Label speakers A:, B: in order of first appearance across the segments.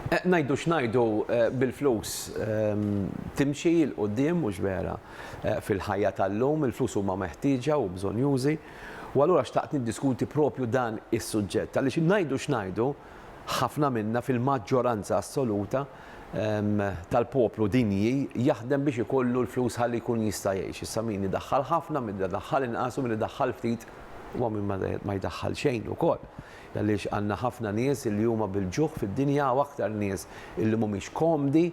A: Ngħidu x'ngħidu, bil-flus timxi 'l quddiem, mhux vera? Fil-ħajja tal-lum, il-flus huma meħtieġa u bżonnjużi. U allura xtaqt niddiskuti proprju dan is-suġġett, għaliex ngħidu x'ngħidu, ħafna minna, fil-maġġoranza assoluta tal-poplu dinji, jaħdem biex ikollu l-flus ħalli jkun jista' jgħix. Issa min idaħħal ħafna, min idaħħal inqas u min idaħħal ftit, u hawn min ma jdaħħal xejn ukoll. Għaliex għandna ħafna nies li huma bil-ġuħ fid-dinja, hawn aktar nies li mhumiex komdi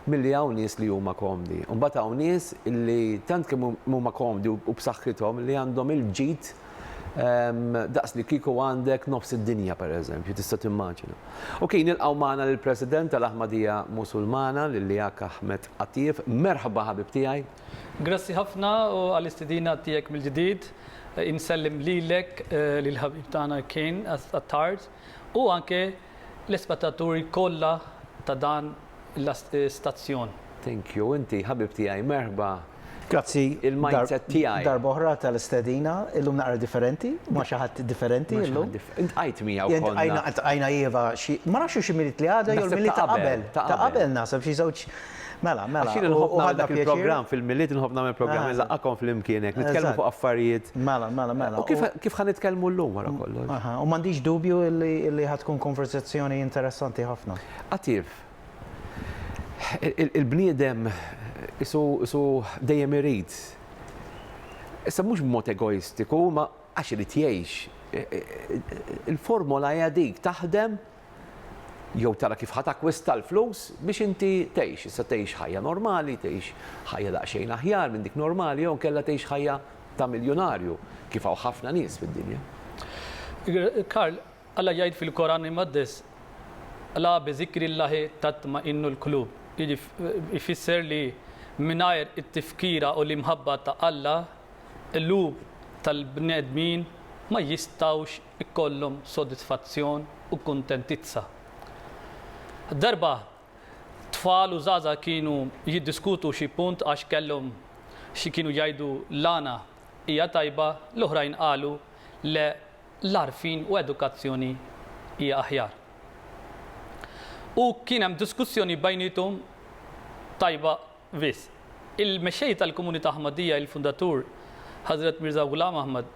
A: milli hawn nies li huma komdi. U mbagħad hawn nies li tant kemm huma komdi u b'saħħithom li għandhom il-ġid daqs li kieku għandek nofs id-dinja, pereżempju, tista' timmaġina. Ok, nilqgħu magħna lill-President tal-Aħmadija Musulmana, lil Liaq Ahmed Attief. Merħba ħabib tiegħi. Grazzi ħafna
B: għall-istidina tiegħek mill-ġdid. Insellem lilek, lill-ħabib tagħna Ken Attard u anke l-ispettaturi kollha ta' dan l-istazzjon. Thank you.
A: Inti ħabib tiegħi, merħba.
C: Grazzi
A: darb'oħra tal-istedina.
C: Illum naqra differenti, ma' xi ħadd differenti illum. Iltqajt miegħu
A: konna. Iltqajna, iltqajna iva, xi,
C: ma nafx hux imilied li għadha jew l-milied ta' qabel. Ta' qabel naħseb, xi żewġ. Mela, mela. Għax jien inħobb nagħmel
A: dak il-programm fil-Milied, inħobb nagħmel programm ah. inżaqqakom flimkien hekk, nitkellmu fuq affarijiet. Mela, mela, mela. U kif kif ħa
C: nitkellmu
A: llum wara kollox? Aha, u m'għandix dubju
C: li ħad tkun konversazzjoni interessanti ħafna. Attiv.
A: Il-bniedem isu dejjem irid. Issa mhux b'mod egoistiku, ma għax irid jgħix. Il-formola hija dik taħdem jew tara kif ħa takkwista l-flus biex inti tgħix. Issa tgħix ħajja normali, tgħix ħajja daqsxejn aħjar minn dik normali jew inkella tgħix ħajja ta' miljunarju kif hawn ħafna nies fid-dinja.
B: Karl, Alla jgħid fil-Koran Imqaddes, Alaa bi zikrillaahi tatma'innu l-qlub, jiġifieri ifisser li mingħajr it-tifkira u l-imħabba ta' Alla, qlub tal-bnedmin ma jistgħux ikollhom sodisfazzjon u kuntentizza. Darba tfal u żgħażagħ kienu jiddiskutu xi punt għax kellhom xi kienu jgħidu l-għana hija tajba, l-oħrajn qalu le l-għarfien u edukazzjoni hija aħjar. U kien hemm diskussjoni bejniethom tajba Vis. Il-Mexxej tal-Komunità Ahmadiyyah il-Fundatur Hazrat Mirza Ghulam Ahmad,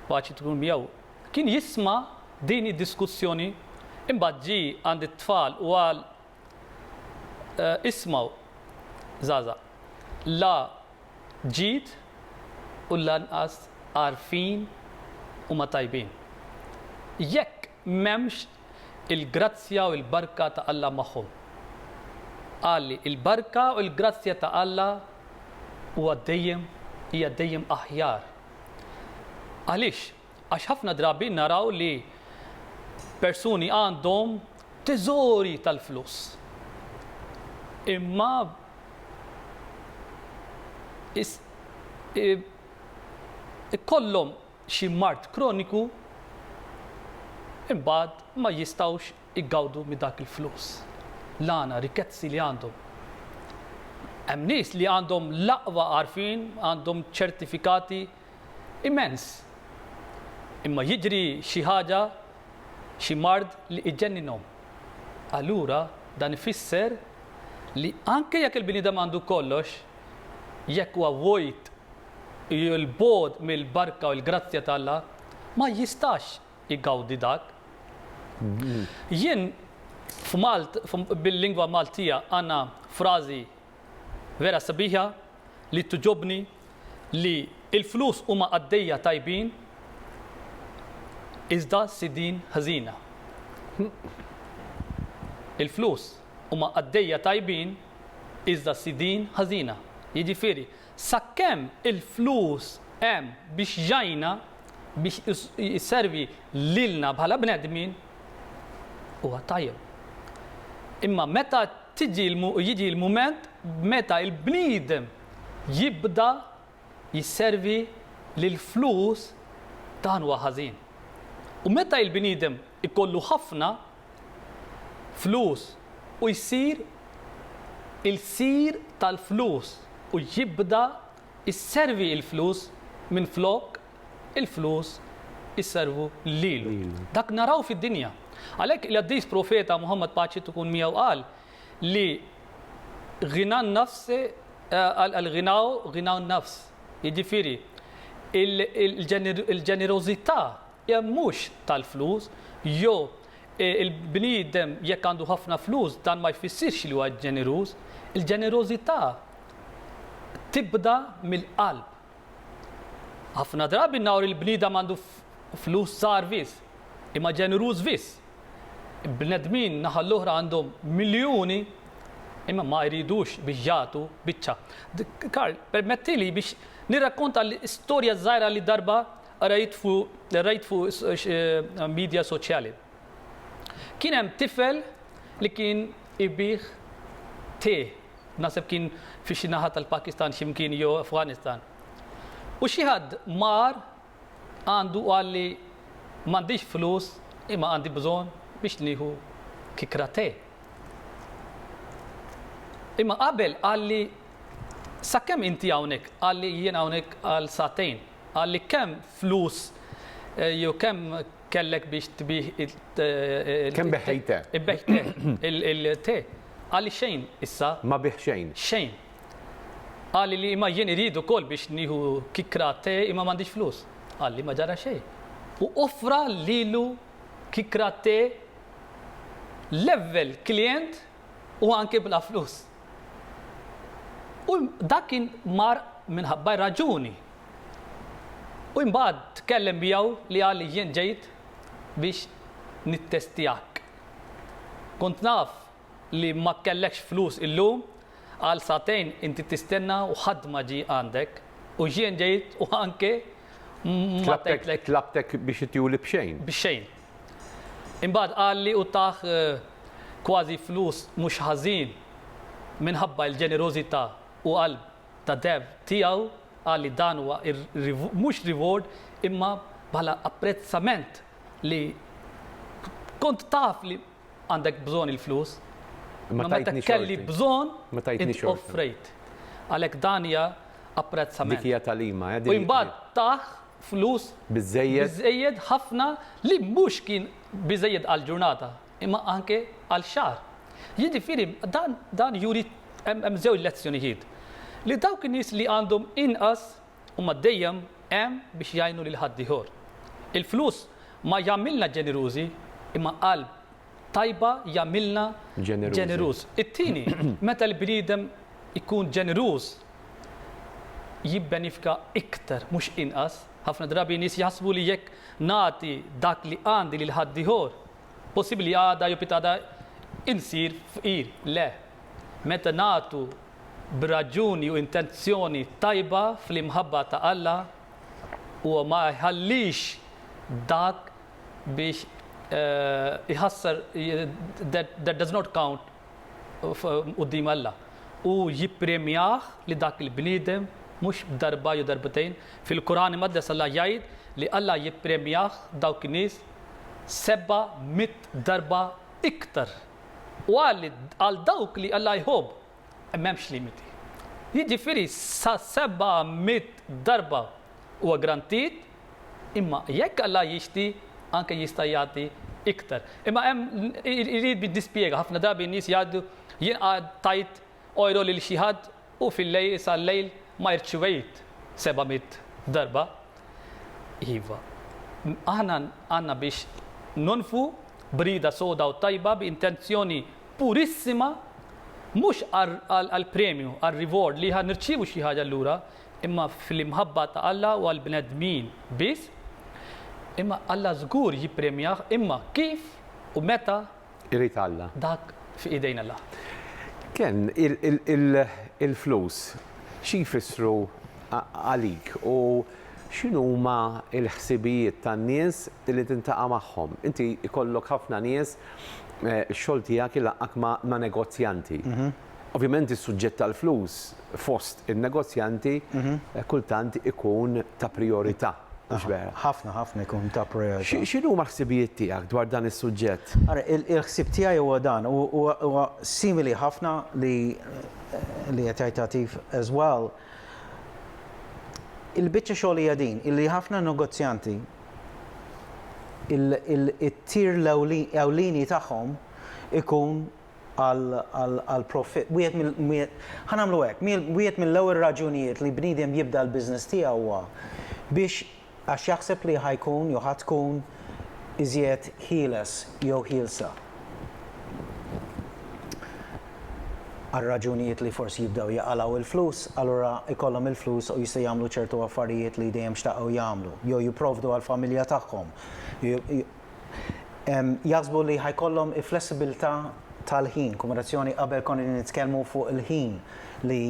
B: paċi tkun miegħu, kien jisma' din id-diskussjoni imbagħad ġie għand it-tfal u qal, Ismgħu, żgħażagħ, la ġid u lanqas għarfien huma tajbin. Jekk M'hemmx il-grazzja u l-barka ta' Alla magħhom. Qal li l-barka u l-grazzja ta' Alla huwa dejjem, hija dejjem aħjar. Għaliex? Għax ħafna drabi naraw li persuni għandhom teżori tal-flus, imma ikollhom, xi mard kroniku imbagħad ma jistgħux igawdu minn dak il-flus, l-għana, rikkezzi li għandhom. Hemm nies li għandhom l-aqwa għarfien, għandhom ċertifikati immens. Imma jiġri xi ħaġa, xi mard li iġenninhom. Allura dan ifisser li anke jekk il-bniedem għandu kollox, jekk huwa vojt li l-bogħod mill-barka u l-grazzja ta' Alla ma jistax igawdi dak. Jien f'Malt, bil-lingwa Maltija għandna frażi vera sabiħa li togħġobni li l-flus huma qaddejja tajbin iżda sidien ħżiena. Il-flus huma qaddejja tajbin iżda sidien ħażina. Jiġifieri, Sakemm il-flus hemm biex jgħinna, biex jservi lilna bħala bnedmin, huwa tajjeb. Imma meta tiġi jiġi l-mument meta l-bniedem jibda jisservi lill-flus, dan huwa ħażin. U meta l-bniedem ikollu ħafna, flus u jsir il-sir tal-flus u jibda jservi il-flus minflok il-flus jservu lilu. Dak naraw fid-dinja. Għalhekk il-Qaddis Profeta Muħammad paċi tkun miegħu qal li ghina an-nafs al-ghinau ghinau an-nafs, jiġifieri il-ġenerożità Jekk mhux tal-flus, jew il-bniedem jekk għandu ħafna flus dan ma jfissirx li huwa ġeneruż. Il-ġenerożità tibda mill-qalb. Ħafna drabi naraw li l-bniedem għandu flus żgħar wis, imma ġeneruż wis. Bnedmin naħa l-oħra għandhom miljuni imma ma jridux biex jagħtu biċċa. Karl, permettili biex nirrakkonta l-istorja żgħira li darba Qrajt fuq is-midja soċjali. Kien hemm tifel li kien ibigħ tè, naħseb kien fi xi naħa tal-Pakistan xi mkien jew Afganistan. U xi ħadd mar għandu u qalli m'għandix flus imma għandi bżonn biex nieħu kikra tè. Imma qabel qalli sakemm inti hawnhekk, qalli jien hawnhekk għal sagħtejn. Qal li kemm flus jew kemm kellek biex tbih Kemm
A: beħħej te. Ibbejħ te,
B: il-te. Qal li xejn issa. Ma bigħ xejn.
A: Xejn.
B: Qal li imma jien irid ukoll biex nieħu kikra te imma m'għandix flus. Qal li ma ġara xejn. U offra lilu kikra te level klijent u anke bla flus. U dak kien mar minħabba r-raġuni. U imbagħad tkellem miegħu li qal li jien ġejt biex nittestjak. Kont naf li ma kellekx flus illum, għal sagħtejn inti tistenna u ħadd ma ġie għandek, u jien ġejt u anke ma tajtlek. Tlabtek biex ttiuli
A: b'xejn. B'xejn.
B: Imbagħad qalli u tah kważi flus mhux ħażin minħabba l-ġenerożità u qalb ta' dev tiegħu, qalli dan huwa mhux reward imma bħala apprezzament li kont taf li għandek bżonn il-flus, imma meta kelli bżonn int offrejt. Għalhekk dan hija apprezzament.
A: U imbagħad tah.
B: flus biżżejjed ħafna li mhux kien biżżejjed għal ġurnata imma anke għal xahar. Jiġifieri dan dan juri hemm żewġ lezzjonijiet. Li dawk in-nies li għandhom inqas huma dejjem hemm biex jgħinu lil ħaddieħor. Il-flus ma jagħmilna ġenerużi imma qalb tajba jagħmilna ġeneruż. It-tieni, meta l-bniedem ikun ġeneruż, jibbenifka iktar mhux inqas. Ħafna drabi nies jaħsbu li jekk nagħti dak li għandi lil ħaddieħor, possibbli għada jew pitgħada insir fqir. Le. Meta nagħtu b'raġuni u intenzjoni tajba fl-imħabba ta' Alla, huwa ma jħallix dak biex iħassar, that does not count quddiem Alla u jippremjah li dak il-bniedem mhux darba jew darbtejn. Fil-Quran Imqaddes Alla jgħid li Alla jippremjah dawk in-nies seba' mitt darba iktar. U qal li għal dawk li Alla jħobb m'hemmx limiti. Jiġifieri sa seba' mitt darba huwa grantit Imma jekk Alla jixti, anke jista' jagħti iktar. Imma hemm irid biex dispjega, ħafna drabi n-nies jgħaddu jien qgħad tajt ojro lil xi ħadd u fil-lejl sal-lejl ma irċivejt seba' mitt darba. Iva, aħna għandna biex nonfqu b'rieda soda u tajba bi intenzjoni purissima mhux għall-premju, għar-reward li ħa nirċievu xi ħaġa lura, imma fl-imħabba ta' Alla u għall-bnedmin biss, imma Alla żgur jippremjah, imma kif u meta Irid Alla.
A: dak fi idejn
B: Alla. Ken,
A: il-flus xi jfissru għalik u x'inhuma l-ħsibijiet tan-nies li tintaqa' magħhom? Inti jkollok ħafna nies, ix-xogħol tiegħek ilaqqak ma' negozjanti. Ovvjament is-suġġett tal-flus fost in-negozjanti kultant ikun ta' prijorità, mhux vera? Ħafna,
C: ħafna jkun ta' prijorità. X'inhuma l-ħsibijiet
A: tiegħek dwar dan is-suġġett? Ara, il-ħsieb tiegħi
C: huwa dan, huwa simili ħafna li li qed jgħid Għatif as well. Il-biċċa xogħol hija din, illi ħafna negozjanti it-tir l-ewlieni tagħhom ikun għall-profitt. Wieħed mill, ħa nagħmlu hekk, wieħed mill-ewwel raġunijiet li bniedem jibda l-business tiegħu huwa biex għax jaħseb li ħa jkun jew ħa tkun iżjed ħieles jew ħielsa. Għal raġunijiet li forsi jibdew jaqalgħu l-flus, allura jkollhom il-flus u jistgħu jagħmlu ċertu affarijiet li dejjem xtaqgħu jagħmlu, jew jipprovdu għall-familja tagħhom, Jaħsbu li ħa jkollhom il-flessibilità tal-ħin, kombinazzjoni qabel konna qegħdin nitkellmu fuq il-ħin li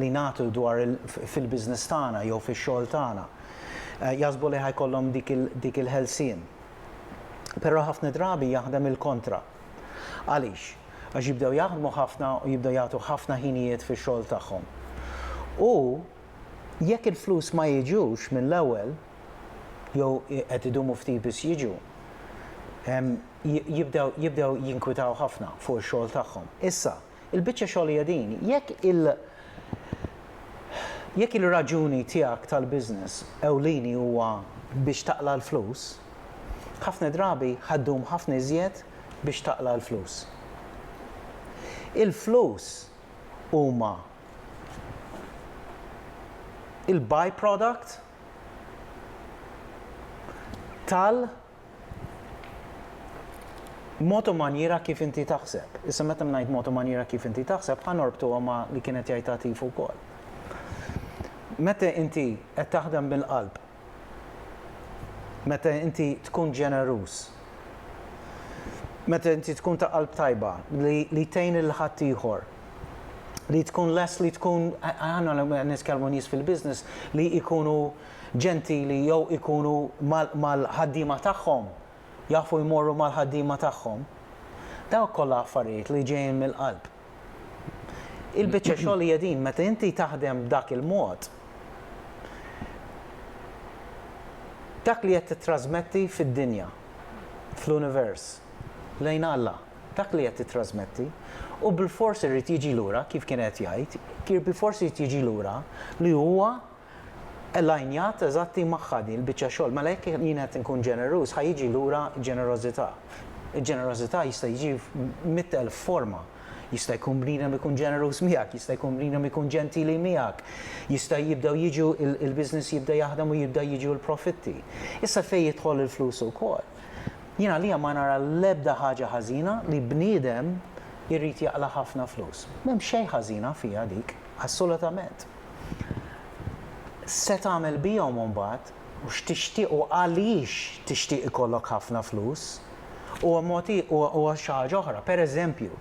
C: li nagħtu dwar fil-business tagħna jew fix-xogħol tagħna. Jaħsbu li ħa jkollhom dik il-ħelsien. Però ħafna drabi jaħdem il-kontra. Għaliex? Għax jibdew jaħdmu ħafna u jibdew jagħtu ħafna ħinijiet fix-xogħol tagħhom. U jekk il-flus ma jiġux mill-ewwel, jew qed idumu ftit biss jiġu, jibdew jinkwitaw ħafna fuq ix-xogħol tagħhom. Issa, il-biċċa xogħol hija din, jekk il, jekk il-raġuni tiegħek tal-business ewlieni huwa biex taqla' l-flus, ħafna drabi ħa ddum ħafna iżjed biex taqla' l-flus. Il-flus huma il-by-product tal mod u manjiera kif inti taħseb. Issa meta ngħid mod u manjiera kif inti taħseb, ħa norbtuha ma li kienet jgħid Atif ukoll. Meta inti qed taħdem bil-qalb, meta inti tkun ġeneruż, meta inti tkun ta' qalb tajba li, li tgħin il-ħadd ieħor, li tkun lest li tkun aħna nitkellmu nies fil-business li jkunu ġentili jew ikunu mal-ħaddiema tagħhom, jafu jmorru mal-ħaddiema tagħhom. Dawk kollha affarijiet li ġejjin mill-qalb. Il-biċċa xogħol hija din meta inti taħdem b'dak il-mod, dak li qed tittrasmetti fid-dinja, fl-univers, lejn Alla. dak li qed tittrasmetti u bilfors irid jiġi lura kif kien qed jgħid, kien bilfors irid jiġi lura li huwa elinjat eżatti magħha din il-biċċa xogħol. Mela jekk jien qed inkun ġeneruż ħa jiġi lura ġenerożità. Il-ġenerożità jista' jiġi mitt elf forma. Jista' jkun bniedem ikun ġeneruż miegħek, jista' jkun bniedem ikun ġentili miegħek, jista' jibdew jiġu il-business jibda jaħdem u jibda jiġu l-profitti. Issa fejn jidħol il-flus ukoll. Jien għalija ma nara l-ebda ħaġa ħażina li bniedem irid jaqla' ħafna flus. M'hemm xejn ħażina fiha dik, assolutament. Se tagħmel bihom imbagħad u x'tixtieq u għaliex tixtieq ikollok ħafna flus huwa mod huwa xi ħaġa oħra. Pereżempju,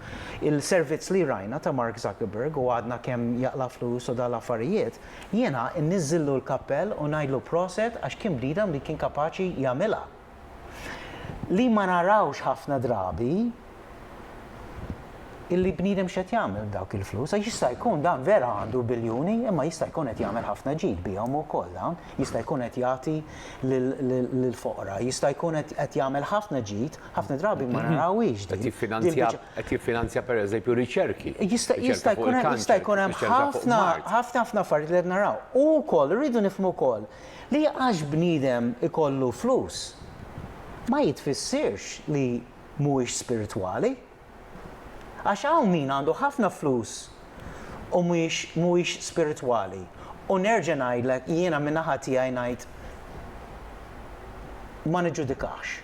C: il-servizz li rajna ta' Mark Zuckerberg u għadna kemm jaqla' flus u dawn l-affarijiet, Jiena nniżżillu l-kappell u ngħidlu proset għax kien bniedem li kien kapaċi jagħmilha. Li ma narawx ħafna drabi illi bniedem x'qed jagħmel b'dawk il-flus għax jista' jkun dan vera għandu biljuni imma jista' jkun qed jagħmel ħafna ġid bihom ukoll dawn, jista' jkun qed jagħti lill-foqra, jista' jkun qed jagħmel ħafna ġid Ħafna drabi ma narawhiex din. Qed jiffinanzja
A: qed jiffinanzja pereżempju riċerki. Jista' jista' jkun hemm
C: jista' jkun hemm ħafna ħafna ħafna affarijiet li qed naraw. U wkoll irridu nifhmu wkoll li għax bniedem ikollu flus ma jitfissirx li mhuwiex spiritwali. Għax hawn min għandu ħafna flus u mhuwiex mhuwiex spiritwali. U nerġa' ngħidlek, jiena min-naħa tiegħi ngħid ma niġġudikahx.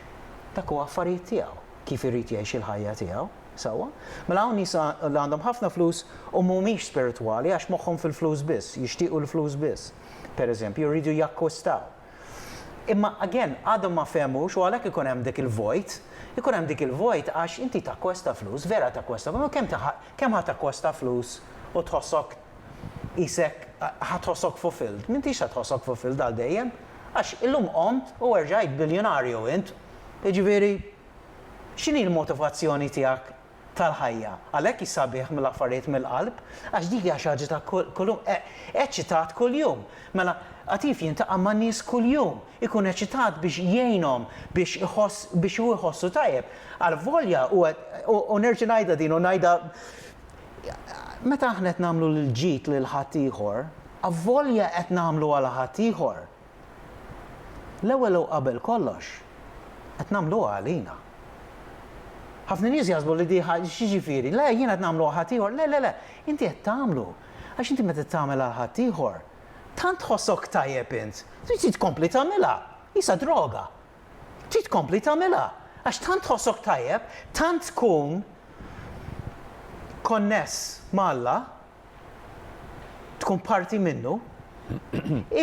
C: Dak huwa affarijiet tiegħu, kif irid jgħix il-ħajja tiegħu, sewwa? Mela hawn nies li għandhom ħafna flus u mhumiex spiritwali għax moħħhom fil-flus biss, jixtiequ l-flus biss, pereżempju, jridu jakkwistaw. Imma again, għadhom ma fehmux u għalhekk ikun hemm dik il-vojt. Ikun hemm dik il-vojt għax inti takkwesta flus, vera takkwesta flus, imma kemm kemm ħa takkwesta flus u tħossok qisek ħa tħossok fulfilled? M'intix se tħossok fulfilled għal dejjem. Għax illum qomt u erġajt biljunarju int. Jiġifieri, x'inhi l-motivazzjoni tiegħek tal-ħajja. Għalhekk hi sabiħ mill-affarijiet mill-qalb, għax dik hija xi ħaġa ta' kuljum, eċċitat kuljum. Mela, qatif jiltaqa' man-nies kuljum, ikun eċċitat biex jgħinhom biex iħoss biex hu jħossu tajjeb. Alvolja huwa u nerġa' ngħidha din u ngħidha meta aħna qed nagħmlu l-ġid lil ħaddieħor, avolja qed nagħmlu għal ħaddieħor, L-ewwel u qabel kollox, qed nagħmluha għalina. Ħafna nies jaħsbu li di ħa, x'jiġifieri? Le, jiena qed nagħmlu għal ħaddieħor. Le, le, le, inti qed tagħmlu. Għax inti meta tagħmel għal ħaddieħor, tant tħossok tajjeb int, trid tkompli tagħmilha. Qisha droga. Trid tkompli tagħmilha. Għax tant tħossok tajjeb, tant tkun konness ma' Alla, tkun parti minnu,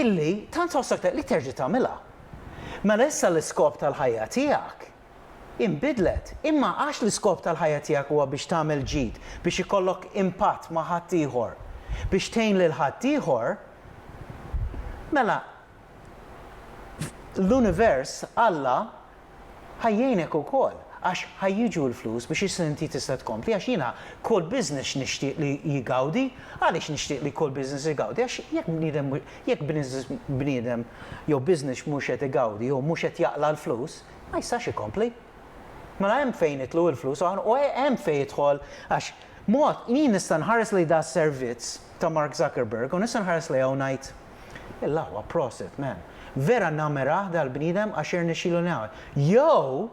C: illi tant tħossok tajjeb li terġa' tagħmilha. Mela issa l-iskop tal-ħajja tiegħek inbidlet. Imma għax l-iskop tal-ħajja tiegħek huwa biex tagħmel ġid, biex ikollok impatt ma' ħaddieħor, biex tgħin lil ħaddieħor, mela Fl-univers, Alla ħa jgħinek ukoll għax ħa jiġu l-flus biex issa inti tista' tkompli għax jiena kull business nixtieq li jgawdi. Għaliex nixtieq li kull business igawdi? Għax jekk bniedem jekk bniedem jew business mhux qed igawdi jew mhux qed jaqla' l-flus, ma jistax ikompli. Mela hemm fejn jitlu l-flus u hemm fejn jidħol għax mod jien nista' nħares lejn da' servizz ta' Mark Zuckerberg u nista' nħares lejha u ngħid, L-aħwa prosit man. Vera namerah dal bniedem għax irnexxilu ngħawed. Jew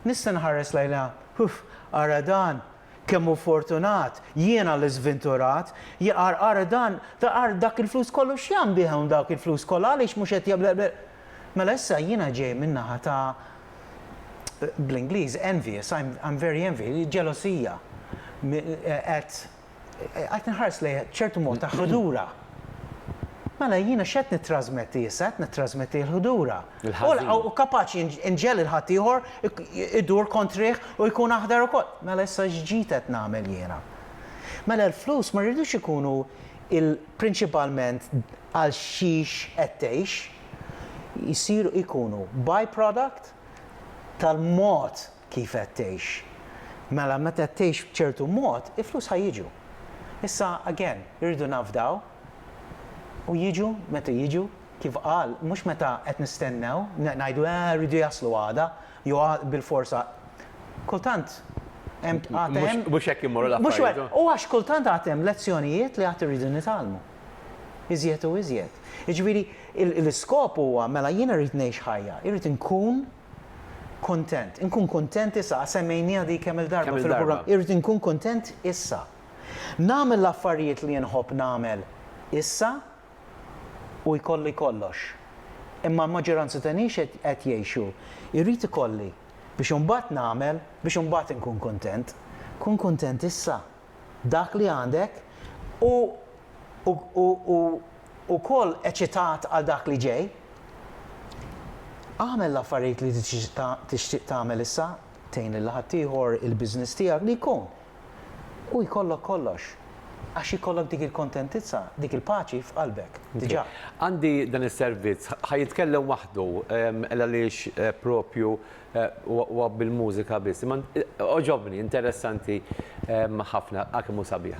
C: nista' nħares lejna huff ara dan kemm hu fortunat, jiena li żvinturat, jaqar ara dan taqar dak il flus kollu x'jagħm bih hawn dawk il flus kollha għaliex mhux qed jagħmel Mela issa jiena ġej minn naħa ta' bl-Ingliż envious, I'm very envious, ġelosija qed Qed inħares lejha b'ċertu mod ta' ħdura. Mela jiena x'qed nittrasmetti issa, qed nittrasmetti l-ħdura. U kapaċi nġegħel lil ħaddieħor idur kontrih u jkun aħdar ukoll. Mela issa x'ġid qed nagħmel jiena? Mela l-flus ma rridux ikunu prinċipalment għal xiex qed tgħix. Isiru, ikunu by-product tal-mod kif qed tgħix. Mela meta qed tgħix b'ċertu mod, il-flus ħa jiġu. Issa, again, irridu nafdaw u jiġu meta jiġu, kif qal, mhux meta qed nistennew, ngħidu eh rridu jaslu għada, jew bilforsa. Kultant hemm għad hemm. Mhux hekk imorru
A: l-affarijiet. U għax kultant għad
C: hemm lezzjonijiet li għad irridu nitgħallmu. Iżjed u iżjed. Jiġifieri l-iskop huwa mela jiena rrid ngħix ħajja, irrid inkun Kuntent. Inkun kuntent issa, għax semmejnieha di kemm-il darba fil-programm. Irrid inkun kuntent issa. Nagħmel l-affarijiet li nħobb nagħmel issa u jkolli kollox. Imma l-maġġoranza ta' nies qed jgħixu, irrid ikolli biex imbagħad nagħmel biex imbagħad inkun kuntent. Kun kuntent issa b'dak li għandek u ukoll eċitat għal dak li ġej. Agħmel l-affarijiet li tixtieq tagħmel issa, tgħin lil ħaddieħor, il-business tiegħek, li jkun. U jkollok kollox. Għax ikollok dik il-kontentizza, dik il-paċi f'qalbek, diġà. Għandi dan
A: is-servizz, ħa jitkellem waħdu, għaliex proprju huwa bil-mużika biss. Imma għoġobni, interessanti ħafna, għal kemm hu sabiħ.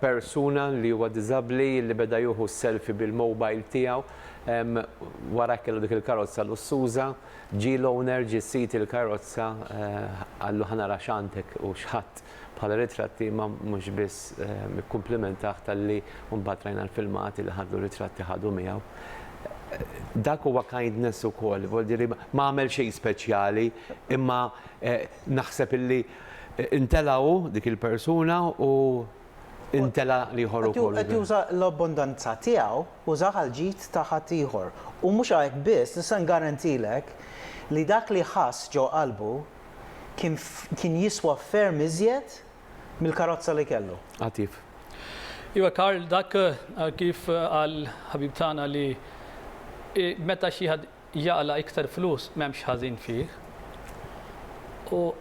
A: persuna li huwa diżabbli li beda juhu selfie bil-mobile tiegħu wara kellu dik il-karozza lussuża, ġie l-owner ġie sid il-karozza qallu ħa nara x'għandek u x'ħadt bħala ritratti imma mhux biss ikkumplimentah talli mbagħad rajna l-filmati li ħadlu ritratti ħadu miegħu. Dak huwa kindness ukoll, vogl dire ma għamel xejn speċjali imma naħseb illi Intelgħu dik il-persuna u intelgħa l-ieħor ukoll. Qed juża l-abbundanza
C: tiegħu, użah għall-ġid ta' ħaddieħor. U mhux hekk biss, nista' ngarantilek li dak li ħass ġo qalbu kien kien jiswa ferm iżjed mill-karozza li kellu. Għatif.
A: Iva
B: Karl, dak kif qal ħabib tagħna li meta xi ħadd jaqla' iktar flus m'hemmx ħażin fih u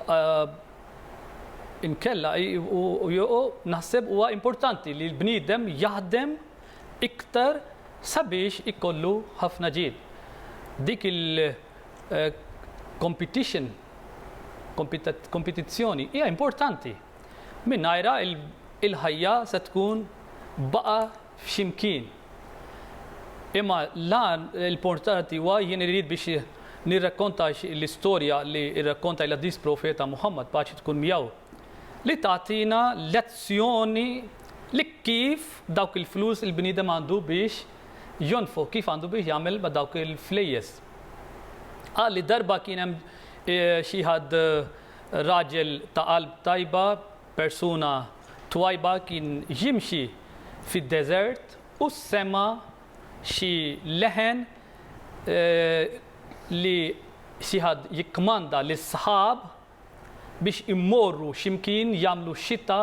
B: inkella u naħseb huwa importanti li l-bniedem jaħdem iktar sabiex ikollu ħafna ġid. Dik il-competition, kompetizzjoni, hija importanti. Mingħajrha il-ħajja se tkun baqa' f'ximkien. Imma l-għan l-importanti huwa jien irrid biex nirrakkontax l-istorja li rrakkonta l-Għadis Profeta Muħammad, paċi tkun miegħu, li tagħtina lezzjoni li kif dawk il-flus il-bniedem għandu biex jonfoq, kif għandu biex jagħmel ma' dawk il-flejjes. Qal li darba kien hemm xi ħadd raġel ta' qalb tajba Persuna twajba kien jimxi fid-deżert u sema' xi leħen li xi ħadd jikkmanda lis-sħab biex immorru x'imkien jagħmlu xita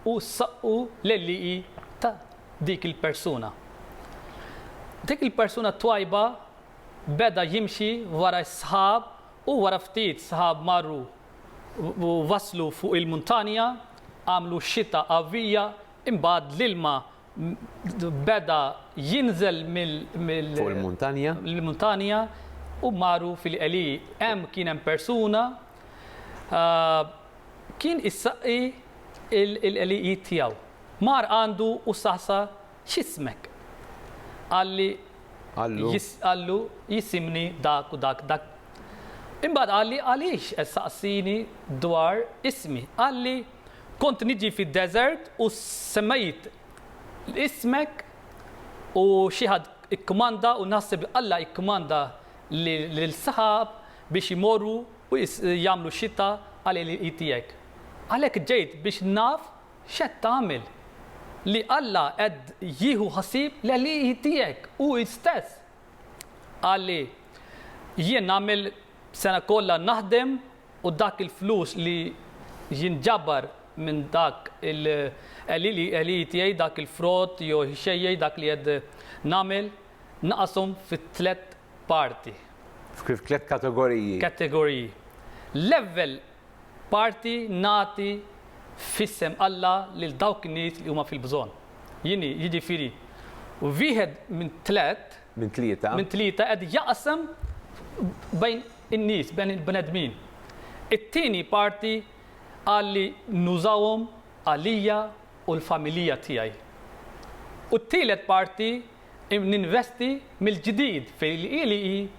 B: u ssaqqu l-għelliqi ta' dik il-persuna. Dik il-persuna twajba beda jimxi wara s-sħab u wara ftit sħab marru u waslu fuq il-muntanja, għamlu xita qawwija, imbagħad l-ilma beda jinżel mill-. Fuq
A: il-muntanja. Mill-muntanja u marru fil-qeli. Hemm kien hemm persuna kien issaqqi l-qelijiet tiegħu. Mar għandu u saqsa X'ismek? Qalli, Qallu. jis, qallu, jisimni dak u dak, dak. Imbagħad qalli, Għaliex qed ssaqsini dwar ismi? Qalli, Kont niġi fid-deżert u semmejt ismek u xi ħadd ikkmanda u naħseb li Alla ikkmanda lill-sħab biex imorru u jagħmlu xita għal għelieqi tiegħek. Għalhekk ġejt biex naf X'qed tagħmel? Li Alla qed jieħu ħsieb l-għelieqi tiegħek hu stess. Qal li, Jien nagħmel sena kollha naħdem u dak il-flus li jinġabar minn dak il-għelieqi tiegħi, dak il-frott jew ix-xejjex dak li qed nagħmel, naqashom fi tliet parti. Fi tliet kategoriji. Kategoriji.
B: Level Parti nagħti f'isem Alla lil dawk in-nies li huma fil-bżonn. Jien, jiġifieri wieħed minn tliet. Minn tlieta. Minn tlieta qed jaqsam bejn in-nies, bejn il-bnedmin. It-tieni parti qal li nużawhom għalija u l-familija tiegħi. U t-tielet parti Ninvesti mill-ġdid fil-qielieqi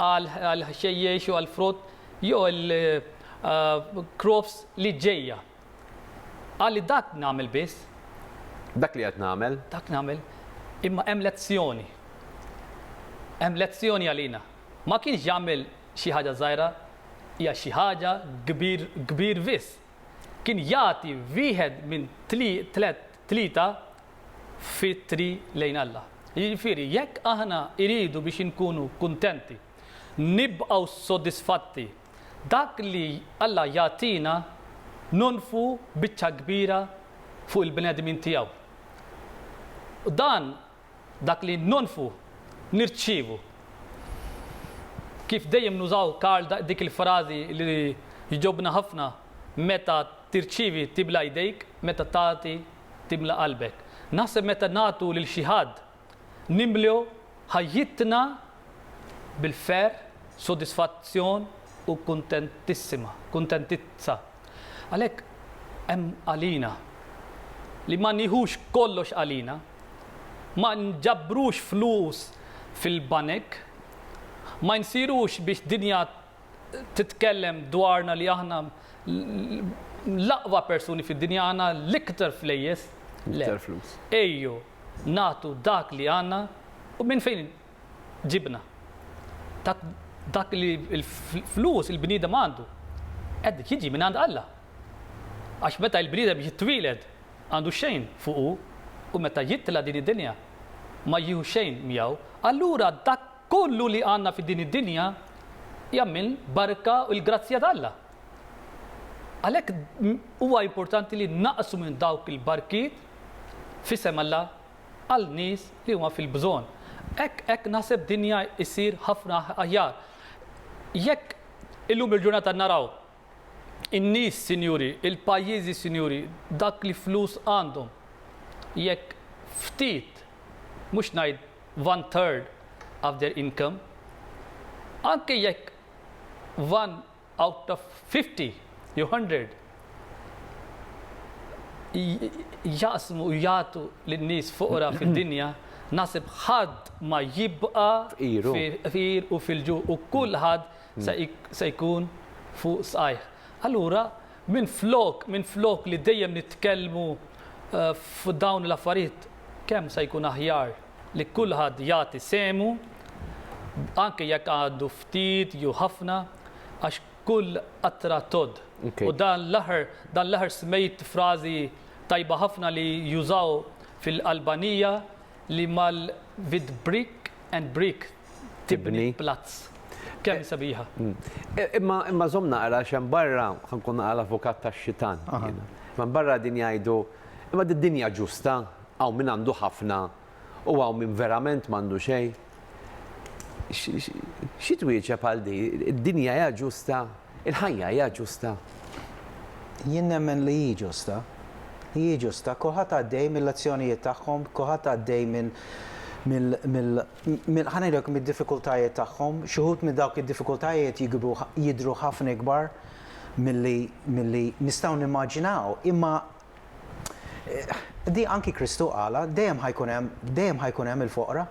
B: għall-ħxejjex jew għall-frott jew il-crops li ġejja. Qal li dak nagħmel biss. Dak li
A: qed nagħmel. Dak nagħmel.
B: Imma hemm lezzjoni. Hemm lezzjoni għalina. Ma kienx jagħmel xi ħaġa żgħira hija xi ħaġa kbir kbir biss. Kien jagħti wieħed minn tliet Tlieta f'itri lejn Alla. Jiġifieri, jekk aħna iridu biex inkunu kuntenti, nibqgħu sodisfatti, dak li Alla jagħtina nonfqu biċċa kbira fuq il-bnedmin tiegħu. Dan Dak li nonfqu, nirċievu. Kif dejjem nużaw Karl dik il-frażi li jġobna ħafna, meta tirċievi tibla' jdejk, meta tagħti timla' qalbek. Naħseb meta nagħtu lil xi ħadd, nimlew ħajjitna bil-ferħ, sodisfazzjon u kuntentissima, kuntentizza. Għalhekk hemm għalina li ma nieħux kollox għalina. ma nġabbrux flus fil-banek, ma nsirux biex dinja titkellem dwarna li aħna l-aqwa persuni fid-dinja għandna l-iktar flejjes, le,
A: ejjew
B: nagħtu dak li għandna u minn fejn ġibna. Ta' dak li l-flus il-bniedem għandu qed jiġi minn għand Alla. Għax meta il-bniedem jitwieled għandu xejn fuqu u meta jitla' din id-dinja ma jieħu xejn miegħu. Allura dak kollu li għandna fi din id-dinja hija minn barka u l-grazzja t'Alla. Għalhekk huwa importanti li naqsmu dawk il-barkiet f'isem Alla għal nies li huma fil-bżonn. Hekk hekk naħseb dinja issir ħafna aħjar. Jekk illum il-ġurnata naraw in-nies sinjuri, il-pajjiżi sinjuri, dak li flus għandhom, jekk ftit, mhux ngħid one third of their income, anke jekk one out of fifty jew hundred jaqsmu u jagħtu lin-nies foqra fid-dinja, naħseb ħadd ma jibqa' fqir u fil-ġuħ u kulħadd se jkun fuq saqajh. Allura minflok minflok li dejjem nitkellmu fuq dawn l-affarijiet kemm se jkun aħjar. li kulħadd jagħti sehmu, anke jekk għandu ftit jew ħafna, għax kull qatra tgħodd. U dan l-aħħar, dan l-aħħar smejt frażi tajba ħafna li jużaw fil-Albanija li mal with brick and brick tibni plazz. Kemm sabiħa. Imma
A: imma żomm naqra xem barra ħankun naqra l-avukat tax-xitan. Imma barra din jgħidu imma d-dinja ġusta, Hawn min għandu ħafna u hawn min verament m'għandu xejn. Xi twieġeb għal din? Id-dinja hija ġusta? Il-ħajja hija ġusta?
C: Jien nemmen li hi ġusta. Hi ġusta. Kulħadd għaddej mill-azzjonijiet tagħhom, kulħadd għaddej minn minn ħa ngħidlek mid-diffikultajiet tagħhom. Xi wħud minn dawk id-diffikultajiet jikbu jidhru ħafna ikbar milli milli nistgħu nimmaġinaw. Imma Di anki Kristu qalha, dejjem ħa jkun hemm, dejjem ħa jkun hemm il-foqra.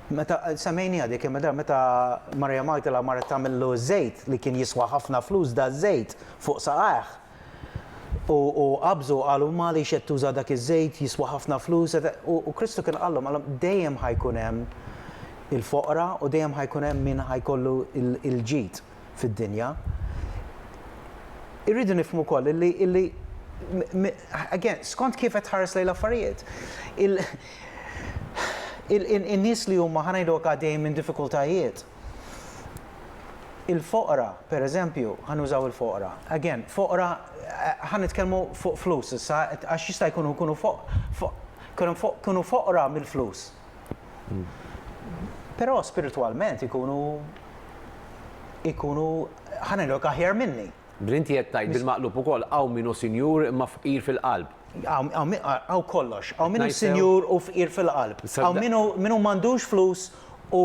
C: Meta semmejniha dik kemm darba meta Marija Magdala marret tagħmillu ż-żejt li kien jiswa ħafna flus da ż-żejt fuq saqajh. U u qabżu qalu ma għaliex qed tuża dak iż-żejt jiswa ħafna flus u Kristu kien qallhom qallhom dejjem ħa jkun hemm il-foqra u dejjem ħa jkun hemm min ħa jkollu l-ġid. fid-dinja. Irridu nifhmu wkoll illi, illi, again, skont kif qed tħares lejn l-affarijiet. In-nies li huma, ħa ngħidulek, għaddejjin minn diffikultajiet, il-foqra, pereżempju, ħa nużaw il-foqra, again, foqra, ħa nitkellmu fuq flus issa, għax jista' jkunu jkunu foqra mill-flus. Però spiritwalment ikunu ikunu ħa ngħidlok aħjar minni. Bil inti qed tgħid
A: bil-maqlub ukoll hawn min hu sinjur imma fqir fil-qalb. Hawn
C: kollox, hawn min hu sinjur u fqir fil-qalb. Hawn min hu min hu m'għandux flus u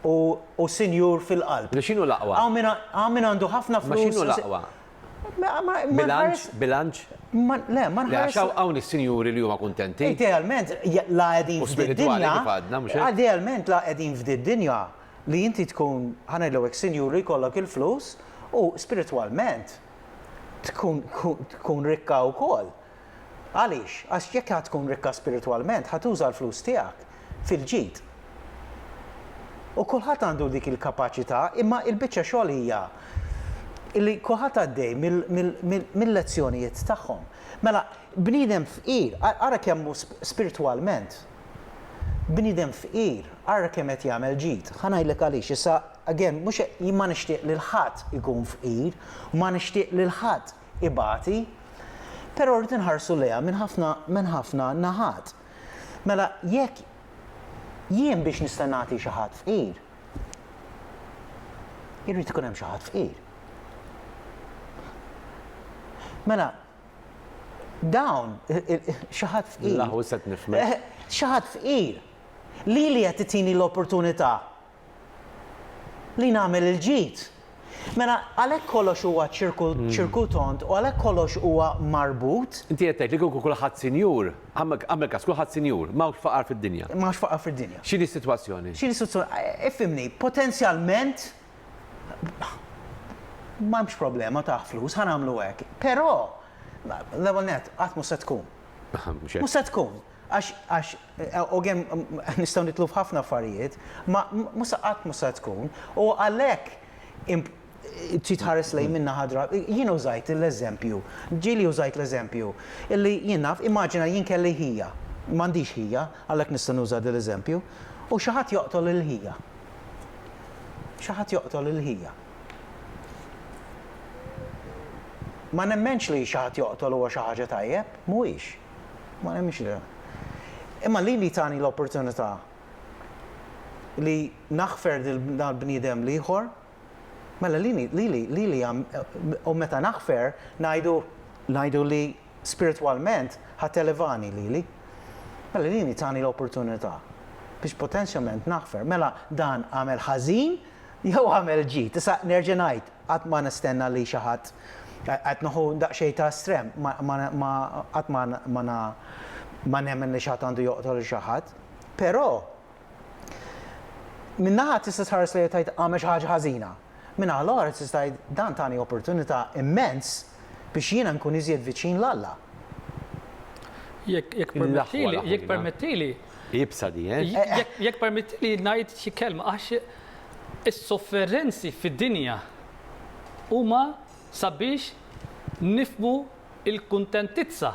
C: u u sinjur fil-qalb. Mela x'inhu l-aqwa? Hawn min
A: hawn min għandu
C: ħafna flus. Imma x'inhu l-aqwa?
A: Bilanċ, bilanċ. Le, ma
C: nħares. Għax hawn is-sinjuri li
A: huma kuntenti. Idealment, la
C: qegħdin f'din dinja. Idealment, la qegħdin f'din dinja li inti tkun, ħa ngħidlu hekk, sinjur li jkollok il-flus u spiritwalment tkun rikka wkoll. Għaliex? Għax jekk ħa tkun rikka spiritwalment, ħa tuża l-flus tiegħek fil-ġid. U kulħadd għandu dik il-kapaċità, imma l-biċċa xogħol hija li kulħadd għaddej mil-lezzjonijiet tagħhom. Mela, bniedem fqir, ara kemm hu spiritwalment, bniedem fqir, ara kemm qed jagħmel ġid. Ħa ngħidlek għaliex, issa, again, mhux, jien ma nixtieq lil ħadd ikun fqir, ma nixtieq lil ħadd ibati, però rrid inħarsu lejha minn ħafna minn ħafna naħat. Mela jekk jien biex nista' nagħti xi ħadd fqir, irrid ikun hemm xi ħadd fqir. Mela dawn xi ħadd fqir. L-aħwis qed nifhmek.
A: Xi ħadd fqir
C: lili qed titini l-opportunità li nagħmel il-ġid. Mela, għalhekk kollox huwa ċirku tond u għalhekk kollox huwa marbut. Inti qed tgħid li kieku
A: kulħadd sinjur, agħmel każ, kulħadd sinjur, m'hawnx faqar fid-dinja. M'hawnx faqar fid-dinja.
C: X'inhi s-sitwazzjoni?
A: X'inhi s-sitwazzjoni? Ifhimni,
C: potenzjalment m'hemmx problema ta' flus, ħa nagħmlu hekk. Però, l-ewwel nett, qatt mhux se tkun. Mhux hekk. Mhux se tkun. Għax, għax, u gem, nistgħu nidħlu f'ħafna affarijiet, ma, mhux se qatt mhux se tkun, u għalhekk imp, trid tħares lejn minn naħa dra, jien użajt l-eżempju, ġieli użajt l-eżempju, illi jien naf, immaġina jien kelli ħija, m'għandix ħija, għalhekk nista' nuża dil-eżempju, u xi ħadd joqtol il-ħija. Xi ħadd joqtol il-ħija. Ma nemmenx li xi ħadd joqtol huwa xi ħaġa tajjeb, mhuwiex. Ma nemminx li hemm. Imma lili tani l-opportunità li naħfer dal-bniedem l-ieħor, mela lili, lili, lili u meta naħfer ngħidu, ngħidu li spiritwalment ħa televani lili. Mela lili tani l-opportunità biex potenzjament naħfer. Mela dan għamel ħażin jew għamel ġid? Issa nerġa' ngħid, Qatt ma nistenna li xi ħadd, qed nieħu daqsxejn ta' estrem, ma qatt ma nemmen li xi ħadd għandu joqtol lil xi ħadd. Però minn naħa tista' tħares lejha u tgħid għamel xi ħaġa ħażina. Min-naħa l-oħra tista' tgħid dan tani opportunità immens. biex jiena nkun iżjed viċin 'l Alla. Jekk
B: permettili, jekk permettili. Iebsa di, eh?
A: Jekk permettili
B: ngħid xi kelma għax is-sofferenzi fid-dinja huma sabiex nifhmu l-kuntentizza.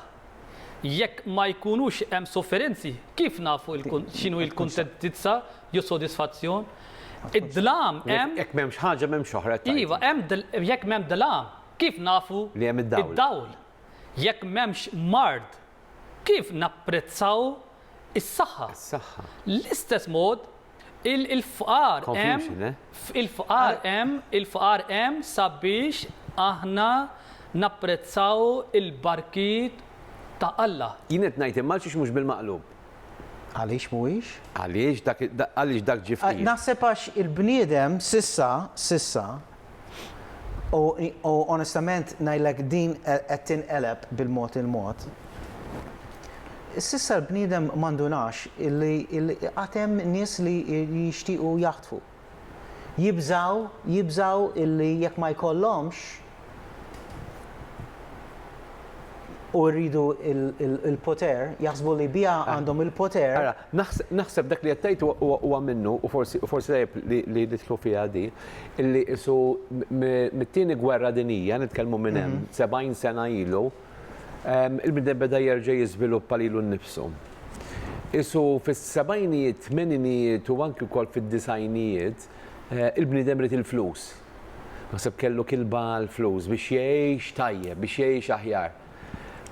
B: Jekk ma jkunux hemm sofferenzi, kif nafu x'inhu l-kuntentizza jew sodisfazzjon? Id-dlam hemm. Jekk m'hemmx ħaġa m'hemmx
A: oħra. Iva, hemm
B: jekk m'hemm dlam, Kif nafu li hemm id-dawl? Jekk m'hemmx mard, kif napprezzaw is-saħħa? L-istess mod, il-fqar hemm sabiex aħna napprezzaw il-barkiet ta' Alla. Jien qed ngħid imma għalxiex
A: mhux bil-maqlub? Għaliex
C: mhuwiex? Għaliex
A: dak ġie fqir? Naħseb għax
C: il-bniedem s'issa, s'issa, U u onestament ngħidlek din qed tinqeleb bil-mod il-mod. S'issa l-bniedem ma ndunax illi illi għad hemm nies li jixtiequ jaħtfu. Jibżgħu jibżgħu illi jekk ma jkollhomx u jridu l-poter, jaħsbu li biha għandhom il-poter. Ara, naħseb naħseb dak
A: li qed tgħid huwa huwa minnu u forsi u forsi tajjeb li li nidħlu fiha din. illi qisu mit-Tieni Gwerra Dinjija, nitkellmu minn hemm 70 sena ilu, il-bniedem beda jerġa' jiżviluppa lilu nnifsu. Qisu fis-sebgħinijiet, tmeninijiet u anki wkoll fid-disgħinijiet, il-bniedem ried il-flus. Naħseb kellu kilba għall-flus biex jgħix tajjeb, biex jgħix aħjar.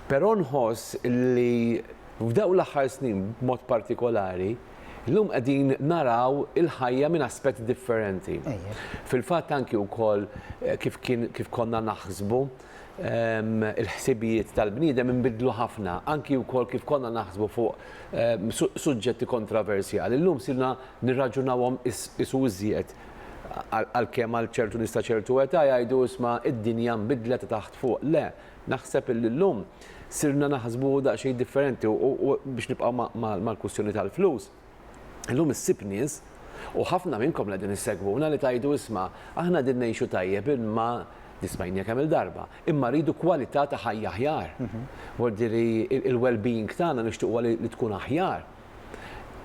A: Però nħoss illi f'dawk l-aħħar snin b'mod partikolari, Illum qegħdin naraw il-ħajja minn aspett differenti. Fil-fatt anki wkoll eh, kif kien kif konna naħsbu ehm, il-ħsibijiet tal-bniedem inbidlu ħafna, anki wkoll kif konna naħsbu fuq ehm, suġġetti kontroversjali. Illum sirna nirraġunawhom isu iżjed għal-kem għal ċertu nista ċertu età jgħidu isma id-dinja nbidlet taħt fuq. Le, naħseb il-lum sirna naħsbu daqsxejn differenti u biex nibqgħu mal-kwistjoni tal-flus, illum issib nies, u ħafna minnkom li qegħdin issegwuna li tgħidu isma' aħna qegħdin ngħixu tajjeb imma, din smajniha kemm-il darba, imma rridu kwalità ta' ħajja aħjar. Vuol dire li il-well being tagħna nixtiequha li tkun aħjar.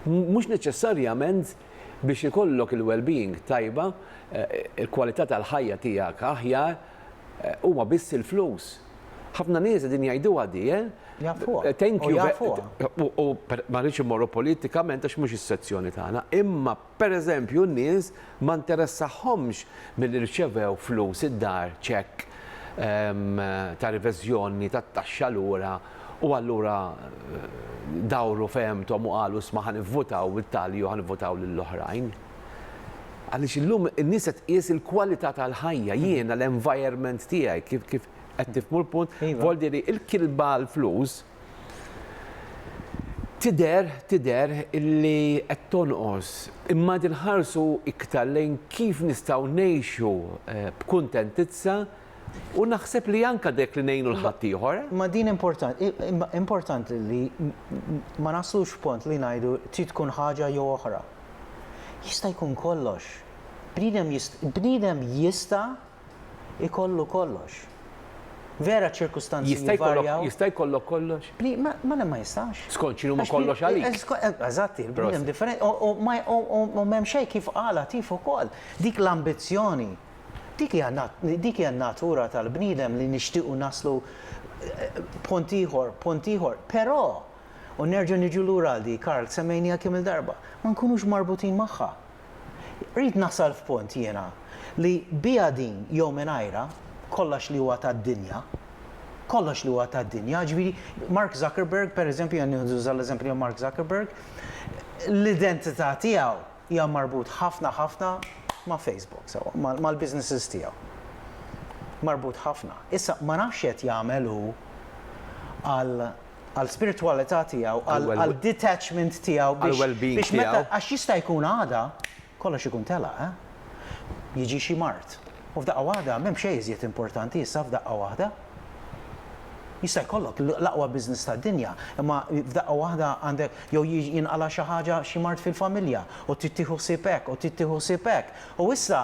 A: Mhux neċessarjament biex ikollok il-well being tajba, il-kwalità tal-ħajja tiegħek aħjar, Huma biss il-flus. Ħafna nies qegħdin jgħiduha di, eh? Thank you. Ma rridx immorru politikament għax mhux is-sezzjoni tagħna, imma pereżempju n-nies ma interessahomx milli rċevew flus id-dar ċekk ta' riveżjoni tat-taxxa lura u allura dawru fehemthom u qalu isma' ħa nivvutaw it-tali jew ħa nivvutaw lill-oħrajn. Għaliex illum in-nies qed tqies il-kwalità tal-ħajja, jiena l-environment tiegħi, kif kif qed tifhmu l-punt? Volli li l-kilba l-flus tidher tidher illi qed tonqos. Imma qed inħarsu iktar lejn kif nistgħu ngħixu b'kuntentizza u naħseb li anke dik li ngħinu l ħaddieħor. Imma din importanti,
C: importanti li ma naslux f'punt li ngħidu trid tkun ħaġa jew oħra. Jista' jkun kollox. Bniedem jist, bniedem jista' jkollu kollox. Vera ċ-ċirkustanzi Jista' jkollok, jivarjaw. jista' jkollok kollox?
A: Bni, ma, ma le ma jistax.
C: Skont x'inhuma Għax bni- kollox
A: għalik. eh, sko- eh, Eżatt, il-bniedem Proset.
C: differenti. U, u, ma, u, u, u m'hemm xejn kif qal Għatif ukoll. Dik l-ambizzjoni, dik hija nat, dik hija n-natura tal-bniedem li nixtiequ naslu eh, punt ieħor, punt ieħor. Però, U nerġgħu niġu lura għal dik, Karl, semmejniha kemm-il darba, ma nkunux marbutin magħha. Rrid nasal f'punt jiena li biha din jew mingħajrha, kollox li huwa tad-dinja, kollox li huwa tad-dinja, jiġifieri Mark Zuckerberg, pereżempju, jien nuża l-eżempju ta' Mark Zuckerberg, l-identità tiegħu hija marbut ħafna ħafna ma' Facebook, sewwa, mal-businesses tiegħu. Marbut ħafna. Issa, ma nafx x'qed jagħmel hu għal għall-spiritwalità tiegħu, għad-detachment tiegħu biex meta, għax jista' jkun għada kollox ikun telaq, jiġi xi mard u f'daqqa waħda m'hemm xejn iżjed importanti issa f'daqqa waħda. Jista' jkollok l-aqwa business tad-dinja, imma f'daqqa waħda għandek jew jinqala' xi ħaġa, xi mard fil-familja u trid tieħu ħsieb hekk u trid tieħu ħsieb hekk. U issa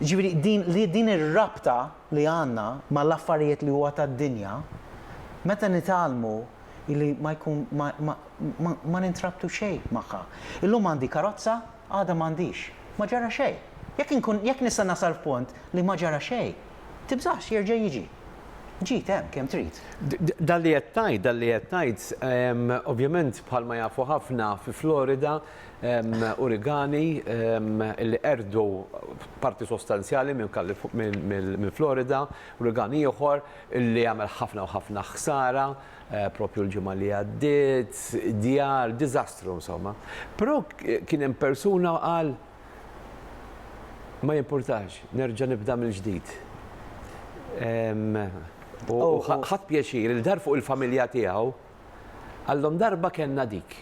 C: Jiġifieri din li din ir-rabta li għandna mal-affarijiet li huwa tad-dinja, meta nitgħallmu li ma jkun ma ma ma ma nintrabtu xejn magħha. Illum għandi karozza, għada m'għandix. Ma ġara xejn. Jekk inkun jekk nista' nasal f'punt li ma ġara xejn, tibżax jerġa' jiġi. Ġid hemm kemm trid. Dan li qed
A: tgħid, dan li qed tgħid, ovvjament bħalma jafu ħafna fi Florida Urigani li qerdu parti sostanzjali minn Florida, urigani ieħor li għamel ħafna u ħafna ħsara proprju l-ġimgħa li għaddiet, djar, diżastru insomma. Però kien hemm persuna qal, ma jimpurtax, nerġa' nibda mill-ġdid. U ħadt pjaċir li dar fuq il-familja tiegħu. Qallhom darba kellna dik.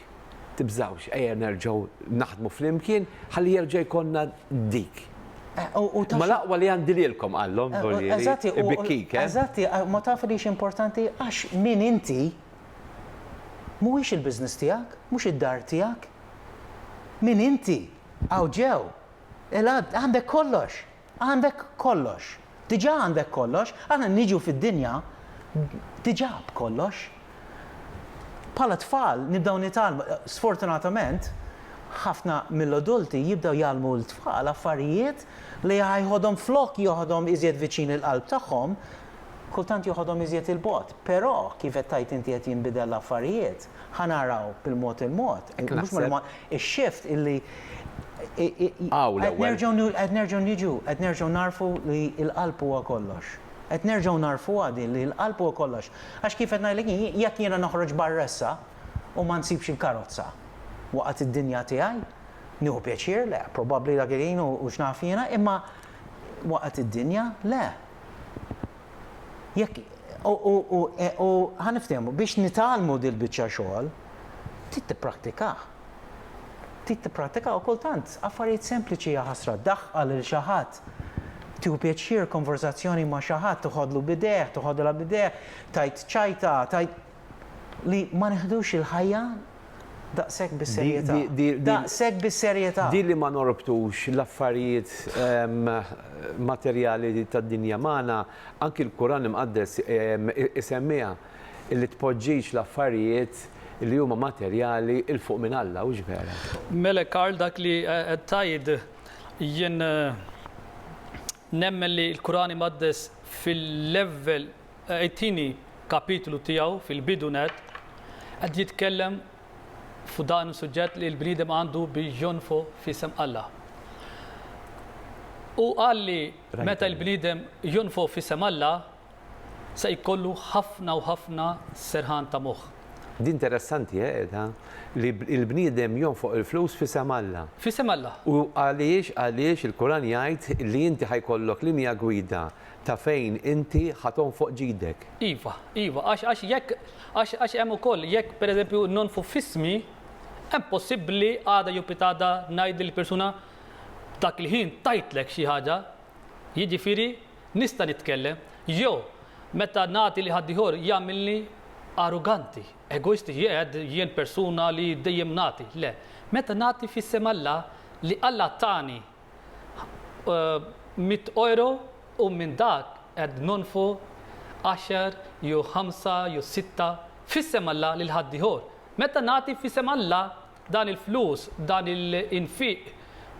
A: Tibżgħux, ejja nerġgħu naħdmu flimkien ħalli jerġa' jkollna dik. Ma l-aqwa li għandi lilkom qallhom Dolieri, ibikkik, eh? Eżatti, ma
C: taf li x'importanti għax min inti mhuwiex il-business tiegħek, mhux id-dar tiegħek. Min inti? Hawn ġew. Il-għad għandek kollox. Għandek kollox. Diġà għandek kollox. Aħna niġu fid-dinja diġà b'kollox. Bħala tfal nibdew nitgħallmu, sfortunatament, ħafna mill-adulti jibdew jgħallmu lit-tfal affarijiet li ħa jħodhom flok joħodhom iżjed viċin il-qalb tagħhom, kultant joħodhom iżjed 'il bogħod. Però, kif qed tgħid inti qed jinbidel l-affarijiet, ħa naraw bil-mod il-mod, mhux mill-mod, Ix-shift illi Hawn l-ewwel. Qed nerġgħu nu, qed nerġgħu niġu, qed nerġgħu nagħrfu li l-qalb huwa kollox. Qed nerġgħu nagħrfuha din li l-qalb huwa kollox. Għax kif qed ngħidlek jien, jekk jiena noħroġ barra issa u ma nsibx il-karozza waqgħet id-dinja tiegħi, nieħu pjaċir? Le, probabbli dak il-ħin u x'naf jiena, imma waqgħet id-dinja? Le. Jekk u ħa niftehmu, biex nitgħallmu dil-biċċa xogħol, trid tipprattikah. Trid tipprattika u kultant affarijiet sempliċi jaħasra, ddaħħal lil xi ħadd, tieħu pjaċir konverżazzjoni ma' xi ħadd, tiħodlu b'idejh, tiħodilha b'idejh, tgħid ċajta, tgħid. li ma neħdux il-ħajja daqshekk bis-serjetà. Daqshekk bis-serjetà. Di li ma norbtux
A: l-affarijiet materjali tad-dinja magħna, anki l-Kuran Imqaddes isemmiha, li tpoġġix l-affarijiet li huma materjali 'l fuq minn Alla, hux vera? Mela Karl
B: dak li qed tgħid jien nemmen li l-Kuran Imqaddes fil-level It-tieni kapitlu tiegħu fil-bidu nett qed jitkellem fuq dan is-suġġett li l-bniedem għandu biex jonfoq f'isem Alla. Hu qal li meta l-bniedem jonfoq f'isem Alla se jkollu ħafna u ħafna serħan ta' moħħ. Din
A: interessanti qiegħda, li l-bniedem jonfoq il-flus f'isem Alla. F'isem Alla. U
B: għaliex
A: għaliex il-Quran jgħid li inti ħa jkollok linja gwida ta' fejn inti ħa tonfoq ġidek. Iva, iva,
B: għax, għax jekk, għax, għax hemm ukoll, jekk pereżempju nonfq f'ismi, hemm possibbli għada jew pitgħada ngħid lill-persuna dak il-ħin tajtlek xi ħaġa, jiġifieri nista' nitkellem, jew meta nagħti lil ħaddieħor jagħmilni arroganti, egoisti, jgħid jien persuna li dejjem nagħti, le, meta nagħti f'isem Alla li Alla tani mitt ojro u minn dak qed nonfqu għaxar jew ħamsa jew sitta f'isem Alla lil ħaddieħor. Meta nagħti f'isem Alla dan il-flus, dan l-infiq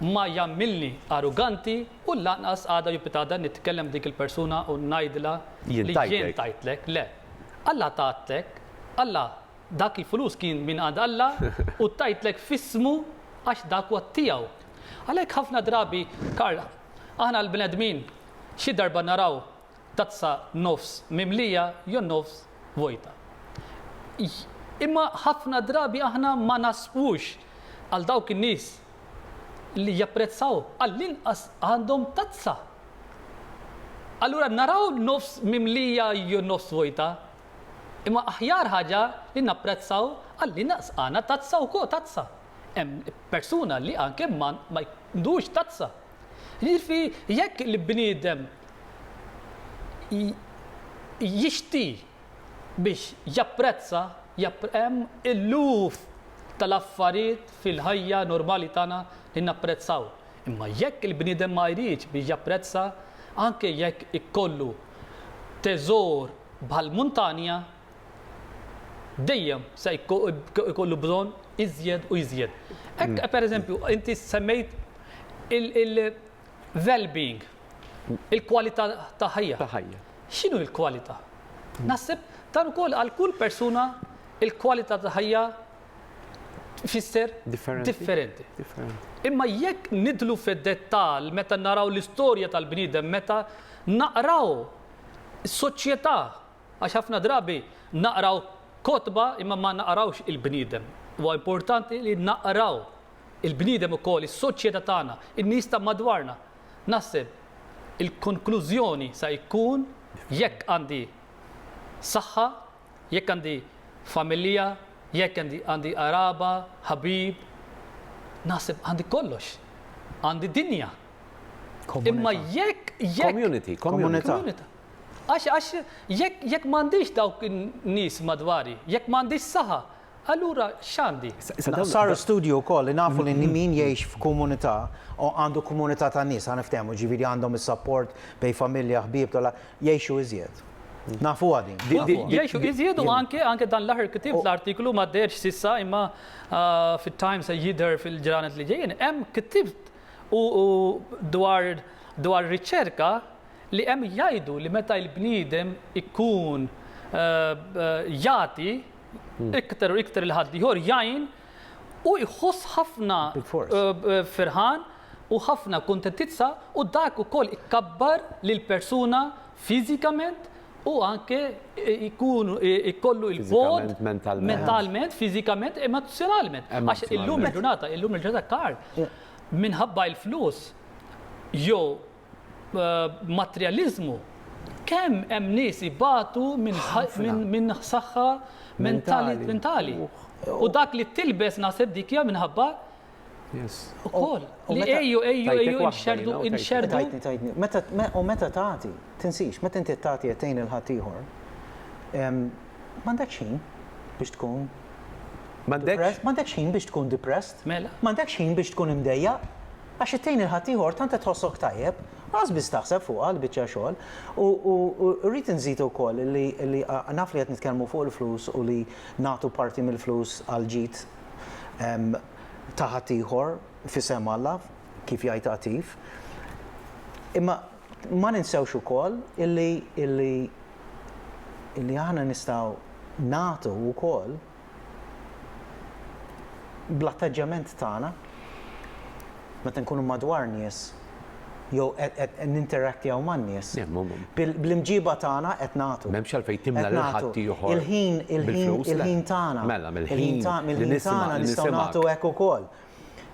B: ma jagħmilni aruganti u lanqas għada jew pitgħada nitkellem ma' dik il-persuna u ngħidilha li jien tajtlek. Le. Alla tatlek, Alla dak il-flus kien mingħand Alla u tajtlek f'ismu għax dak huwa tiegħu. Għalhekk ħafna drabi, Karl, aħna l-bnedmin xi darba naraw tazza nofs mimlija jew nofs vojta. Imma ħafna drabi aħna ma nasqux għal dawk in-nies li japprezzaw għall-inqas għandhom tazza. Allura naraw nofs mimlija jew nofs vojta, imma aħjar ħaġa li napprezzaw għall-inqas għandna tazza wkoll tazza. Hemm persuna li anke ma jkunux tazza. Jiġifi jekk il-bniedem jixti biex japprezza, hemm eluf tal-affarijiet fil-ħajja normali tagħna li napprezzaw. Imma jekk il-bniedem ma jridx biex japprezza, anke jekk ikollu teżor bħall-muntanja, dejjem se jkollu bżonn iżjed u iżjed. Hekk mm. pereżempju inti semmejt il-well-being, il-kwalità ta' ħajja. Ta' ħajja. X'inhu l-kwalità? Mm. Naħseb dan ukoll għal kull persuna il-kwalità ta' ħajja fisser differenti. Imma jekk nidlu fid-dettal meta naraw l-istorja tal-bniedem, meta naqraw soċjetà Għax ħafna drabi naqraw kotba imma ma naqrawx il-bniedem. Huwa importanti li naqraw il-bniedem ukoll, is-soċjetà tagħna, in-nies ta' madwarna. Naħseb il-konklużjoni sa jkun jekk għandi saħħa, jekk għandi familja, jekk għandi għandi qaraba, ħabib, naħseb għandi kollox. Għandi dinja. Imma Komunità. jekk jekk Community, community.
A: Komunità. Komunità.
B: Għax, għax, jekk, jekk m'għandix dawk in-nies madwari, jekk m'għandix saħa, allura x'għandi? Sar
C: studju wkoll li nafu li min jgħix f'komunità u għandu komunità ta' nies, ħa niftehmu, jiġifieri għandhom is-sapport bejn familja, ħbieb, jgħixu iżjed. Nafuha din. Jgħixu iżjed
B: u anke, anke dan l-aħħar ktibt l-artiklu ma deherx s'issa imma fit-Times se jidher fil-ġranet li ġejjin, hemm ktibt u dwar dwar riċerka li hemm jgħidu li meta l-bniedem ikun jagħti iktar u iktar lil ħaddieħor jgħin hu jħoss ħafna ferħan u ħafna kuntentizza u dak ukoll ikabbar lill-persuna fiżikament u anke jkun ikollu l-bogħod mentalment, fiżikament, emozzjonalment. Għax illum il-ġurnata, illum il-ġurnata Karl minħabba l-flus jew materjaliżmu, kemm hemm nies ibatu minn saħħa mentali. U dak li tilbes naħseb dik hija minħabba Ukoll, li ejju, ejju, ejju, inxerdu, inxerdu. Tajtni, tajtni.
C: U meta tagħti, tinsix, meta inti tagħti qed tgħin il-ħadd ieħor, m'għandekx ħin biex tkun M'għandekx ħin biex tkun depressed. Mela. M'għandekx ħin biex tkun imdejja. Għax it-tgħin lil ħaddieħor tant qed tħossok tajjeb, lanqas biss taħseb fuqha l-biċċa xogħol. U rrid inżid ukoll li naf li qed nitkellmu fuq il-flus u li nagħtu parti mill-flus għall-ġid ta' ħaddieħor f'isem Alla, kif jgħid Għatif. Imma ma ninsewx ukoll illi aħna nistgħu nagħtu wkoll. bl-attaġġjament tagħna meta nkunu madwar nies jew qed ninterattjaw man-nies.
A: Bl-imġiba tagħna
C: qed nagħtu. M'hemmx għalfejn timla lil
A: ħaddieħor. Il-ħin, il-ħin, il-ħin
C: tagħna. Mela,
A: mill-ħin tagħna nistgħu
C: nagħtu
A: hekk
C: ukoll.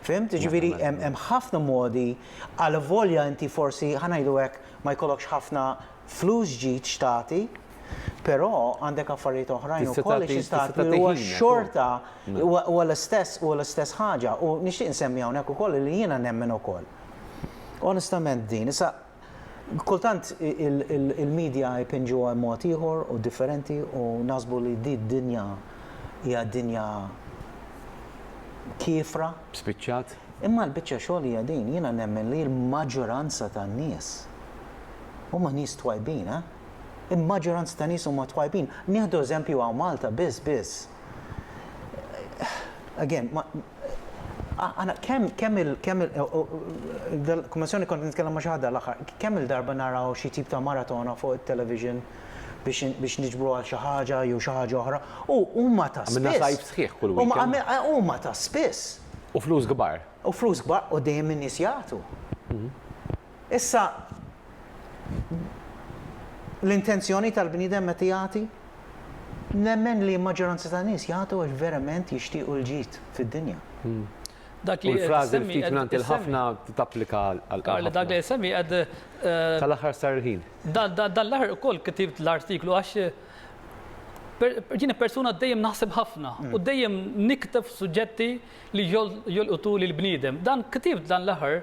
C: Fhimt? Jiġifieri hemm ħafna modi għalavolja inti forsi, ħa ngħidu hekk, ma jkollokx ħafna flus ġid x'tagħti, Però għandek affarijiet oħrajn ukoll li xi stat li huwa xorta huwa l-istess huwa l-istess ħaġa u nixtieq insemmi hawnhekk ukoll li jiena nemmen ukoll. Onestament din, issa kultant il-medja jpinġuha mod ieħor u differenti u naħsbu li din id-dinja hija dinja kiefra. Spiċċat.
A: Imma l-biċċa
C: xogħol hija din, jiena nemmen li l-maġġoranza tan-nies huma nies twajbin, eh? Il-maġġoranza ta' nies huma twajbin. Nieħdu eżempju hawn Malta biss biss. Again, għana kemm kemm il kemm il kummissjoni kont nitkellem ma' xi ħadd l-aħħar, kemm il-darba naraw xi tip ta' maratona fuq it-television biex niġbru għal xi ħaġa jew xi ħaġa oħra u huma ta' spiss. Għamilna sajf sħiħ kull
A: weekend. Huma ta' spiss.
C: U flus kbar.
A: U flus kbar u
C: dejjem in-nies jagħtu. Issa, l-intenzjoni tal-bniedem meta jagħti? Nemmen li l-maġġoranza tan-nies jagħtu għax verament jixtiequ l-ġid fid-dinja. Dak
B: li qed issemmi qed issemmi. U l-frażi
A: l-ftit mingħand il-ħafna tapplika għal. Karl, dak li qed issemmi qed.
B: Tal-aħħar
A: sar il-ħin. Dan l-aħħar
B: ukoll ktibt l-artiklu għax jiena persuna dejjem naħseb ħafna u dejjem nikteb suġġetti li jolqtu lill-bniedem. Dan ktibt dan l-aħħar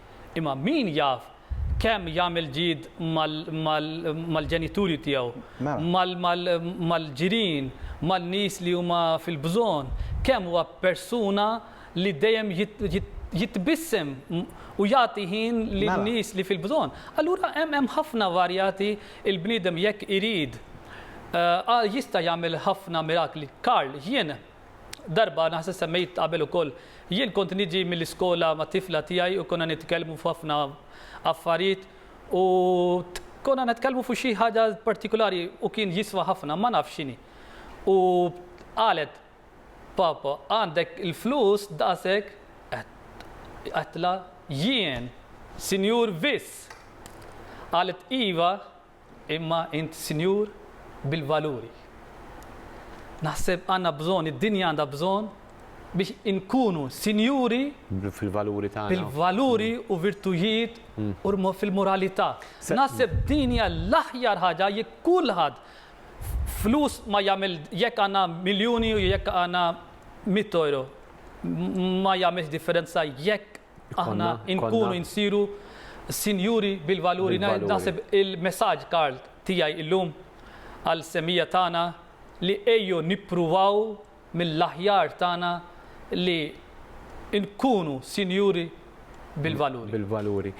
B: Imma min jaf kemm jagħmel ġid mal-ġenituri tiegħu, mal-ġirien, man-nies li huma fil-bżonn, kemm huwa persuna li dejjem jitbissem u jagħti ħin lin-nies li fil-bżonn. Allura hemm ħafna varjati, il-bniedem jekk irid jista' jagħmel ħafna mirakli. Karl, jien Darba naħseb semmejt qabel ukoll, jien kont niġi mill-iskola mat-tifla tiegħi u konna nitkellmu f'ħafna affarijiet u konna nitkellmu fuq xi ħaġa partikulari u kien jiswa ħafna, ma nafx x'inhi. U qalet, Papa, għandek il-flus daqshekk? Għedtla, Jien, Sinjur Viss! Qalet, Iva, Imma int Sinjur bil-valuri. Naħseb għandna bżonn, id-dinja għandha bżonn biex inkunu sinjuri fil-valuri
A: tagħna. Fil-valuri u
B: virtujiet u fil-moralità. Naħseb din hija l-aħjar ħaġa jekk kulħadd flus ma jagħmel jekk għandna miljuni u jekk għandna 100 euro ma jagħmilx differenza jekk Aħna nkunu nsiru sinjuri bil-valuri. Naħseb il-messaġġ, Karl, tiegħi illum għall-semmija tagħna li ejjew nippruvaw mill-aħjar tagħna li nkunu sinjuri bil-valuri. Bil-valuri.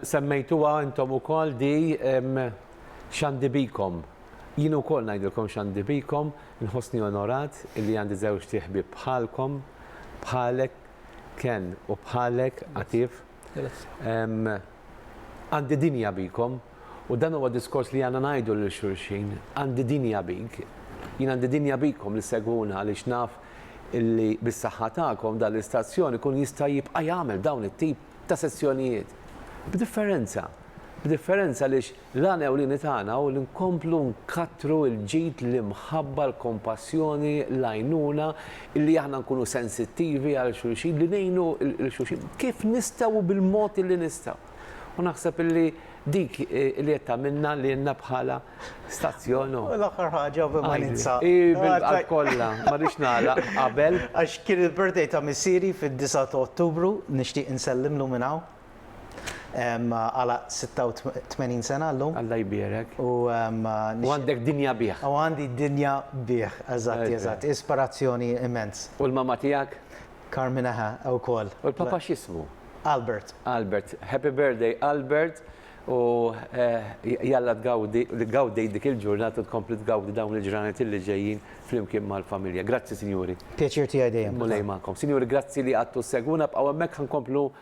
A: Semmejtuha intom ukoll di x'għandi bikom. Jien ukoll ngħidilkom x'għandi bikom, inħossni onorat li għandi żewġt ħbieb bħalkom, bħalek, Ken u bħalek Atif. Għandi dinja bikom u dan huwa diskors li għandna ngħidu lil xulxin. Għandi dinja bik. Jien għandi dinja bikom li segwuna għaliex naf illi bis-saħħa tagħkom dan l-istazzjon ikun jista' jibqa' jagħmel dawn it-tip ta' sessjonijiet. B'differenza. B'differenza għaliex L-għan ewlieni tagħna hu li nkomplu nkattru l-ġid, l-imħabba, l-kompassjoni, l-għajnuna, li aħna nkunu sensittivi għal xulxin, li ngħinu lil xulxin kif nistgħu u bil-mod illi nistgħu. U naħseb illi dik li qed tagħmilna lilna bħala stazzjon u. U l-aħħar ħaġa
C: u b'immanizza. Hi bil-qalb kollha,
A: ma rridx nagħlaq qabel. Għax kien il-birthday
C: ta' missiri fid-disgħa ta' Ottubru, nixtieq insellimlu minn hawn. Għala 86 sena llum. Alla jbierek. U għandek
A: dinja bih. U għandi dinja
C: bih, eżatt, eżatt. Ispirazzjoni immens. U l-mamma tiegħek?
A: Carmina ħa, wkoll.
C: U l-papa
A: x'ismu? Albert. Albert. Happy birthday, Albert. U jalla tgawdi dik il-ġurnata u tkompli tgawdi dawn il-ġranet li ġejjin flimkien mal-familja. Grazzi, sinjuri. Pjaċir tiegħi dejjem.
C: Mulej magħkom. Sinjuri,
A: grazzi li qgħadtu ssegwuna. Bqgħu hemmhekk ħa nkomplu